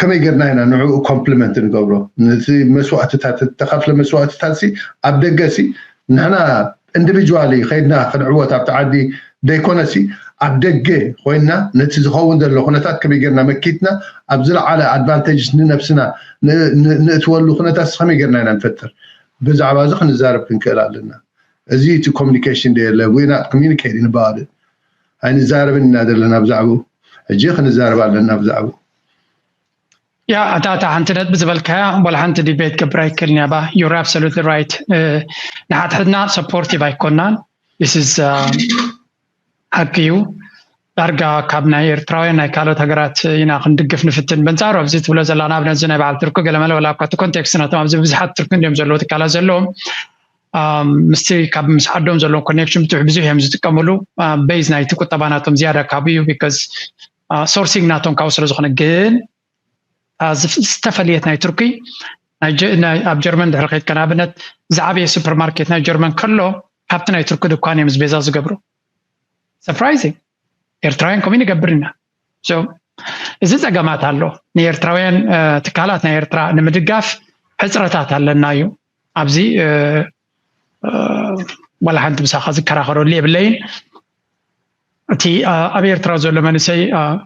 ከመይ ገርና ኢና ንዕኡ ኮምፕሊመንት ንገብሮ ነቲ መስዋእትታት ዝተኸፍለ መስዋእትታት ሲ ኣብ ደገ ሲ ንሕና እንድቪጅዋሊ ከይድና ክንዕወት ኣብቲ ዓዲ ደይኮነ ሲ ኣብ ደገ ኮይንና ነቲ ዝኸውን ዘሎ ኩነታት ከመይ ገርና መኪትና ኣብ ዝለዓለ ኣድቫንተጅ ንነብስና ንእትወሉ ኩነታት ሲ ከመይ ገርና ኢና ንፈጥር ብዛዕባ እዚ ክንዛረብ ክንክእል ኣለና እዚ እቲ ኮሚኒኬሽን ደየለ ዊር ናት ኮሚኒኬቲንግ ኣባውት ኢት ኣይንዛረብን ኢና ዘለና ብዛዕብኡ ሕጂ ክንዛረብ ኣለና ብዛዕብኡ ያ እታ እታ ሓንቲ ነጥቢ ዝበልካያ ወላ ሓንቲ ዲቤት ገብር ኣይክእልን እያ ባ ዩር ኣብሶሉት ራይት ንሓድሕድና ሰፖርቲቭ ኣይኮናን ስስ ሓቂ እዩ ዳርጋ ካብ ናይ ኤርትራውያን ናይ ካልኦት ሃገራት ኢና ክንድግፍ ንፍትን በንፃሩ ኣብዚ ትብሎ ዘለና ኣብነዚ ናይ በዓል ትርኩ ገለመለ ወላ እኳ እቲ ኮንቴክስት ነቶም ኣብዚ ብዙሓት ትርኩ እንዲዮም ዘለዎ ትካላት ዘለዎም ምስቲ ካብ ምስ ዓዶም ዘለዎም ኮኔክሽን ብትሕ ብዙሕ እዮም ዝጥቀምሉ ቤዝ ናይቲ ቁጠባ ናቶም ዝያዳ ካብኡ እዩ ቢካዝ ሶርሲንግ ናቶም ካብኡ ስለ ዝኾነ ግን ዝተፈለየት ናይ ቱርኪ ኣብ ጀርመን ድሕሪ ከይድካ ንኣብነት ዝዓበየ ሱፐርማርኬት ናይ ጀርመን ከሎ ካብቲ ናይ ቱርኪ ድኳን እዮም ቤዛ ዝገብሩ ሰርፕራይዚንግ ኤርትራውያን ከምኡ ንገብር ኢና እዚ ፀገማት ኣሎ ንኤርትራውያን ትካላት ናይ ኤርትራ ንምድጋፍ ሕፅረታት ኣለና እዩ ኣብዚ ዋላ ሓንቲ ምሳኻ ዝከራኸረሉ የብለይን እቲ ኣብ ኤርትራ ዘሎ መንእሰይ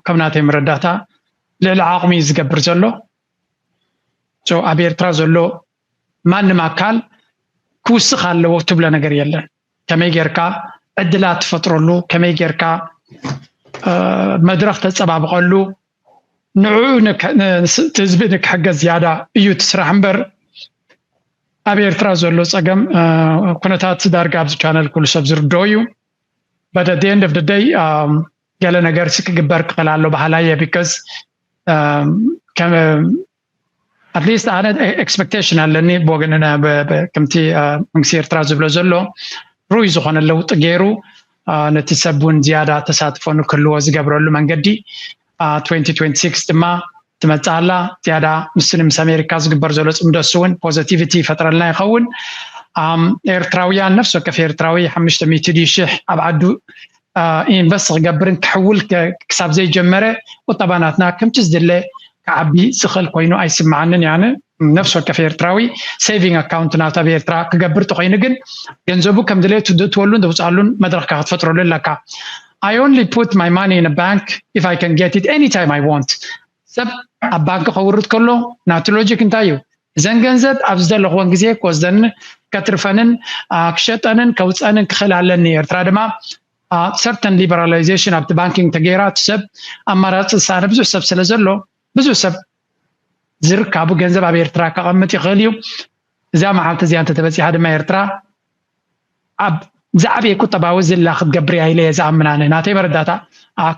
ከም ናተይ መረዳእታ ልዕሊ ዓቕሚ ዝገብር ዘሎ ኣብ ኤርትራ ዘሎ ማንም ኣካል ክውስኽ ኣለዎ ትብሎ ነገር የለን ከመይ ጌርካ ዕድላት ትፈጥረሉ፣ ከመይ ጌርካ መድረኽ ተጸባብቐሉ፣ ንዕኡ እቲ ህዝቢ ንክሕገዝ ዝያዳ እዩ እቲ ስራሕ እምበር ኣብ ኤርትራ ዘሎ ጸገም ኩነታት ዳርጋ ኣብዚ ቻነል ኩሉ ሰብ ዝርድኦ እዩ በት ኣት ኤንድ ኦፍ ደይ ገለ ነገር ሲ ክግበር ክኽእል ኣሎ በሃላይ እየ ቢካዝ ኣትሊስት ኣነ ኤክስፐክቴሽን ኣለኒ ብወገንና ከምቲ መንግስቲ ኤርትራ ዝብሎ ዘሎ ርኡይ ዝኾነ ለውጢ ገይሩ ነቲ ሰብ እውን ዝያዳ ተሳትፎ ንክህልዎ ዝገብረሉ መንገዲ 2026 ድማ ትመፅእ ኣላ ዝያዳ ምስ ምስ ኣሜሪካ ዝግበር ዘሎ ፅምዶ እሱ እውን ፖዘቲቪቲ ይፈጥረልና ይኸውን ኤርትራውያን ነፍሲ ወከፍ ኤርትራዊ ሓሙሽተ ሚእቲ ሽሕ ኣብ ዓዱ ኢንቨስት ክገብርን ክሕውል ክሳብ ዘይጀመረ ቁጠባ ናትና ከምቲ ዝድለ ክዓቢ ዝኽእል ኮይኑ ኣይስምዓንን እየ ኣነ ነፍሲ ወከፍ ኤርትራዊ ሴቪንግ ኣካውንት ናቱ ኣብ ኤርትራ ክገብር ተኮይኑ ግን ገንዘቡ ከም ድሌቱ ዝእትወሉን ዘውፅኣሉን መድረኽካ ክትፈጥረሉ ኣለካ I only put my money in a bank if I can get it anytime I want ሰብ ኣብ ባንኪ ከውርድ ከሎ ናቱ ሎጂክ እንታይ እዩ እዘን ገንዘብ ኣብ ዝደለኽወን ግዜ ክወስደንን ከትርፈንን ክሸጠንን ከውፀንን ክኽእል ኣለኒ ኤርትራ ድማ ሰርተን ሊበራላይዜሽን ኣብቲ ባንኪንግ ተገይራ እቲ ሰብ ኣማራፂ ዝሰኣነ ብዙሕ ሰብ ስለ ዘሎ ብዙሕ ሰብ ዝርካቡ ገንዘብ ኣብ ኤርትራ ከቐምጥ ይኽእል እዩ እዛ መዓልቲ እዚኣ እንተተበፂሓ ድማ ኤርትራ ኣብ ዝዓበየ ቁጠባዊ ዝላ ክትገብር እያ ኢለ እየ ዝኣምን ኣነ ናተይ መረዳእታ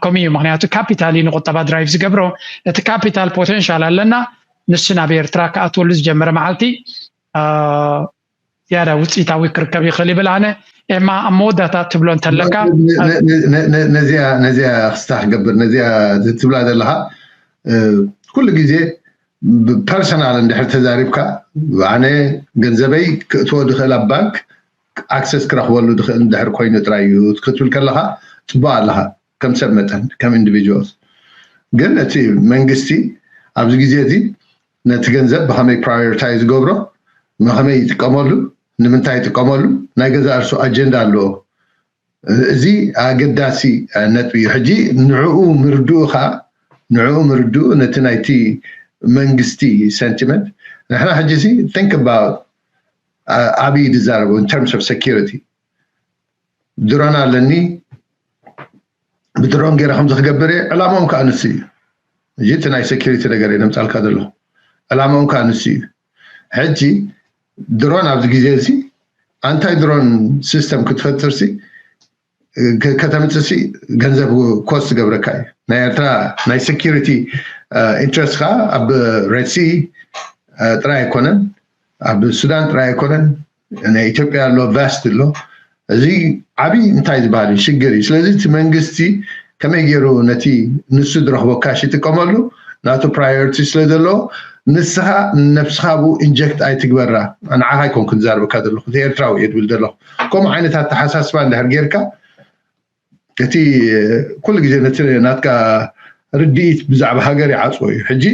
ከምኡ እዩ ምክንያቱ ካፒታል እዩ ንቁጠባ ድራይቭ ዝገብሮ እቲ ካፒታል ፖቴንሻል ኣለና ንሱ ናብ ኤርትራ ክኣትወሉ ዝጀመረ መዓልቲ ዝያዳ ውፅኢታዊ ክርከብ ይኽእል ይብል ኣነ ኤማ ኣብ መወዳእታ ትብሎ እንተለካ ነዚኣ ነዚያ ክስታ ክገብር ነዚያ ትብላ ዘለካ ኩሉ ግዜ ብፐርሰናል እንድሕር ተዛሪብካ ኣነ ገንዘበይ ክእትዎ ዝኽእል ኣብ ባንክ ኣክሰስ ክረኽበሉ ዝኽእል እንድሕር ኮይኑ ጥራይ እዩ ክትብል ከለኻ ጽቡቕ ኣለኻ ከም ሰብ መጠን ከም ኢንዲቪጁዋል ግን እቲ መንግስቲ ኣብዚ ግዜ እዚ ነቲ ገንዘብ ብኸመይ ፕራዮሪታይዝ ገብሮ ንኸመይ ይጥቀመሉ ንምንታይ ይጥቀመሉ ናይ ገዛእ ርሱ ኣጀንዳ ኣለዎ እዚ ኣገዳሲ ነጥቢ እዩ ሕጂ ንዕኡ ምርድኡ ከኣ ንዕኡ ምርድኡ ነቲ ናይቲ መንግስቲ ሰንቲመንት ንሕና ሕጂ ሲ think about ኣብይ ዝዛረቦ in terms of security ድሮን ኣለኒ ብድሮን ገይረ ከምዚ ክገብር እየ ዕላማኦም ከዓ ንሱ እዩ እዚ እቲ ናይ ሴኪሪቲ ነገር እዩ ነምፃልካ ዘለኹ ዕላማኦም ከዓ ንሱ እዩ ሕጂ ድሮን ኣብዚ ግዜ እዚ ኣንታይ ድሮን ሲስተም ክትፈጥር ሲ ከተምጽእ ሲ ገንዘብ ኮስት ዝገብረካ እዩ ናይ ኤርትራ ናይ ሴኩሪቲ ኢንትረስት ከኣ ኣብ ሬድሲ ጥራይ ኣይኮነን ኣብ ሱዳን ጥራይ ኣይኮነን ናይ ኢትዮጵያ ኣሎ ቫስት ኣሎ እዚ ዓቢ እንታይ ዝበሃል እዩ ሽግር እዩ ስለዚ እቲ መንግስቲ ከመይ ገይሩ ነቲ ንሱ ዝረኽቦ ካሽ ይጥቀመሉ ናቱ ፕራዮሪቲ ስለ ዘለዎ ንስኻ ንነብስኻ ብኡ ኢንጀክት ኣይትግበራ ንዓኻ ኣይኮንኩን ዝዛርበካ ዘለኹ እቲ ኤርትራዊ እየ ድብል ዘለኹ ከምኡ ዓይነት ኣተሓሳስባ እንድሕር ጌርካ እቲ ኩሉ ግዜ ነቲ ናትካ ርድኢት ብዛዕባ ሃገር ይዓጽዎ እዩ ሕጂ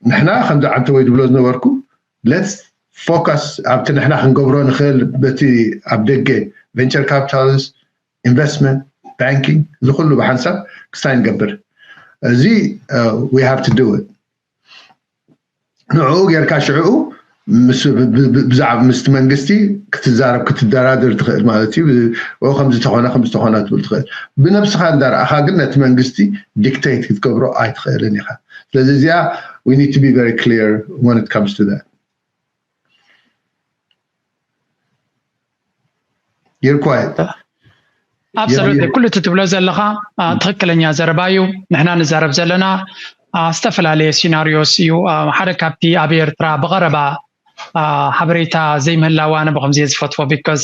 ንሕና ከምዚ ዓንተወይ ዝብሎ ዝነበርኩ ለት ፎካስ ኣብቲ ንሕና ክንገብሮ ንኽእል በቲ ኣብ ደገ ቨንቸር ካፒታልስ ኢንቨስትመንት ባንኪንግ እዚ ኩሉ ብሓንሳብ ክሳይ ንገብር እዚ ዊ ሃቭ ቱ ዱ ንዕኡ ጌርካ ሽዕኡ ምስቲ መንግስቲ ክትዛረብ ክትደራደር ትኽእል ማለት እዩ ከምዚ ተኾነ ከምዚ ተኾነ ክትብል ትኽእል ብነብስኻ እንዳርኣኻ ግን ነቲ መንግስቲ ዲክተይት ክትገብሮ ኣይትኽእልን ኢኻ ስለዚ እዚኣ ዊ ኒድ ቱ ቢ ቨሪ ክሊር ወን ኢት ካምስ ቱ ዛት። You're quiet. ኣብሰሉት ኩሉ እቲ ትብሎ ዘለኻ ትክክለኛ ዘረባ እዩ ንሕና ንዛረብ ዘለና ዝተፈላለየ ሲናሪዮስ እዩ ሓደ ካብቲ ኣብ ኤርትራ ብቀረባ ሓበሬታ ዘይምህላዋ ኣነ ብከምዚ እየ ዝፈትዎ ቢካዝ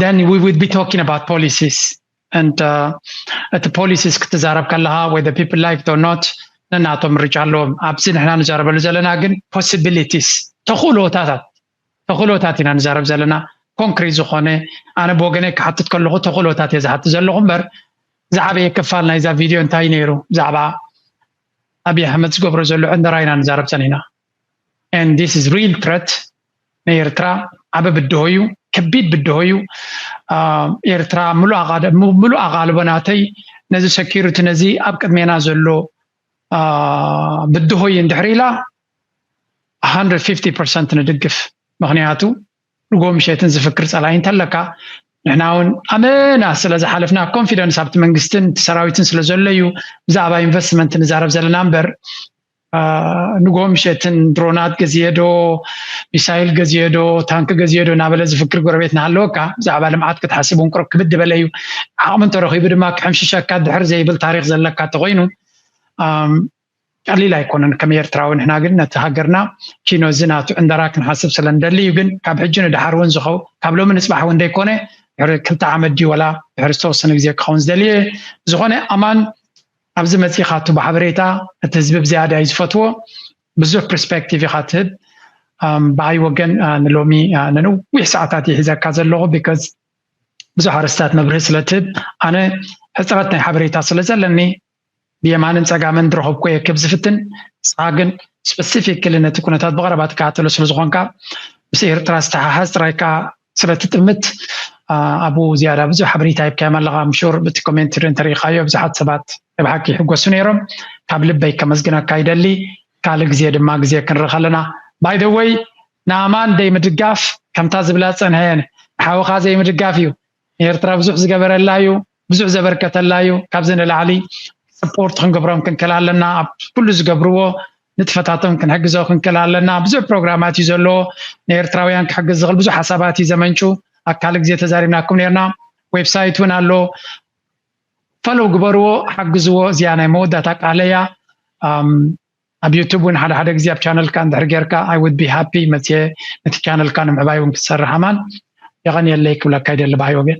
then we would be talking about policies and እቲ ፖሊሲስ ክትዛረብ ከለኻ ወይ the people like or not ነናቶም ምርጫ ኣለዎም ኣብዚ ንሕና ንዛረበሉ ዘለና ግን possibilities ተኽእሎታታት ተኽእሎታት ኢና ንዛረብ ዘለና ኮንክሪት ዝኾነ ኣነ ብወገነይ ክሓትት ከለኹ ተኽእሎታት እየ ዝሓትት ዘለኹ እምበር ዝዓበየ ክፋል ናይዛ ቪድዮ እንታይ ነይሩ ብዛዕባ ኣብዪ ኣሕመድ ዝገብሮ ዘሎ ዕንደራ ኢና ንዛረብ ፀኒሕና and this is real threat ናይ ኤርትራ ዓበ ብድሆ እዩ ከቢድ ብድሆ እዩ ኤርትራ ምሉእ ኣቓልቦ ናተይ ነዚ ሰኪሪቲ ነዚ ኣብ ቅድሜና ዘሎ ብድሆ እዩ እንድሕር ኢላ 150 ፐርሰንት ንድግፍ ምክንያቱ ንጎ ምሸትን ዝፍክር ፀላይ እንተለካ ንሕና እውን ኣመና ስለ ዝሓለፍና ኮንፊደንስ ኣብቲ መንግስትን እቲ ሰራዊትን ስለ ዘሎ እዩ ብዛዕባ ኢንቨስትመንት ንዛረብ ዘለና እምበር ንግሆ ምሸትን ድሮናት ገዝየዶ ሚሳይል ገዝየዶ ታንኪ ገዝየዶ እናበለ ዝፍክር ጎረቤት እናሃለወካ ብዛዕባ ልምዓት ክትሓስብ እውን ቁርብ ክብድ በለ እዩ ዓቕሚ እንተረኺቡ ድማ ክሕምሽሸካ ድሕር ዘይብል ታሪክ ዘለካ እንተኮይኑ ቀሊል ኣይኮነን ከም ኤርትራዊ ንሕና ግን ነቲ ሃገርና ኪኖ እዚ ናቱ ዕንደራ ክንሓስብ ስለ ንደሊ እዩ ግን ካብ ሕጂ ንድሓር እውን ዝኸው ካብ ሎሚ ንፅባሕ እውን ዘይኮነ ድሕሪ ክልተ ዓመት ድዩ ወላ ድሕሪ ዝተወሰነ ግዜ ክኸውን ዝደልየ ዝኾነ ኣማን ኣብዚ መጺኻቱ ብሓበሬታ እቲ ህዝቢ ብዝያዳ እዩ ዝፈትዎ ብዙሕ ፕርስፐክቲቭ ኢኻ ትህብ ብኣይ ወገን ንሎሚ ንነዊሕ ሰዓታት ይሒዘካ ዘለኹ ቢካዝ ብዙሕ ኣርስታት መብርሂ ስለትህብ ኣነ ሕፅረት ናይ ሓበሬታ ስለ ዘለኒ ብየማንን ፀጋምን ድረኸብኩ እየ ክብ ዝፍትን ንስኻ ግን ስፐሲፊክሊ ነቲ ኩነታት ብቐረባ ትከታተሎ ስለ ዝኾንካ ምስ ኤርትራ ዝተሓሓዝ ጥራይ ከዓ ስለቲ ጥምት ኣቡ ዝያዳ ብዙሕ ሓበሬታ ሂብካዮም ኣለኻ ኣምሹር ብቲ ኮሜንት እንተሪኢኻዮ ብዙሓት ሰባት ናይ ብሓቂ ይሕጎሱ ነይሮም ካብ ልበይ ከመስግነካ ይደሊ ካልእ ግዜ ድማ ግዜ ክንርኽ ኣለና ባይ ዘ ወይ ንኣማን ዘይምድጋፍ ከምታ ዝብላ ዝጸንሐ ንሓውኻ ዘይምድጋፍ እዩ ንኤርትራ ብዙሕ ዝገበረላ እዩ ብዙሕ ዘበርከተላ እዩ ካብዚ ንላዕሊ ስፖርት ክንገብሮም ክንክእል ኣለና ኣብ ኩሉ ዝገብርዎ ንጥፈታቶም ክንሕግዞ ክንክእል ኣለና ብዙሕ ፕሮግራማት እዩ ዘለዎ ንኤርትራውያን ክሕግዝ ዝኽእል ብዙሕ ሓሳባት እዩ ዘመንጩ ኣብ ካልእ ግዜ ተዛሪብናኩም ነርና ዌብሳይት እውን ኣሎ ፈለው ግበርዎ ሓግዝዎ እዚኣ ናይ መወዳእታ ቃለ እያ ኣብ ዩቱብ እውን ሓደ ሓደ ግዜ ኣብ ቻነልካ እንድሕር ጌርካ ኣይ ውድ ቢ ሃፒ መፅየ ነቲ ቻነልካ ንምዕባይ እውን ክትሰርሕ ኣማን የቐንየለይ ክብለካ ይደሊ ብሃይ ወገን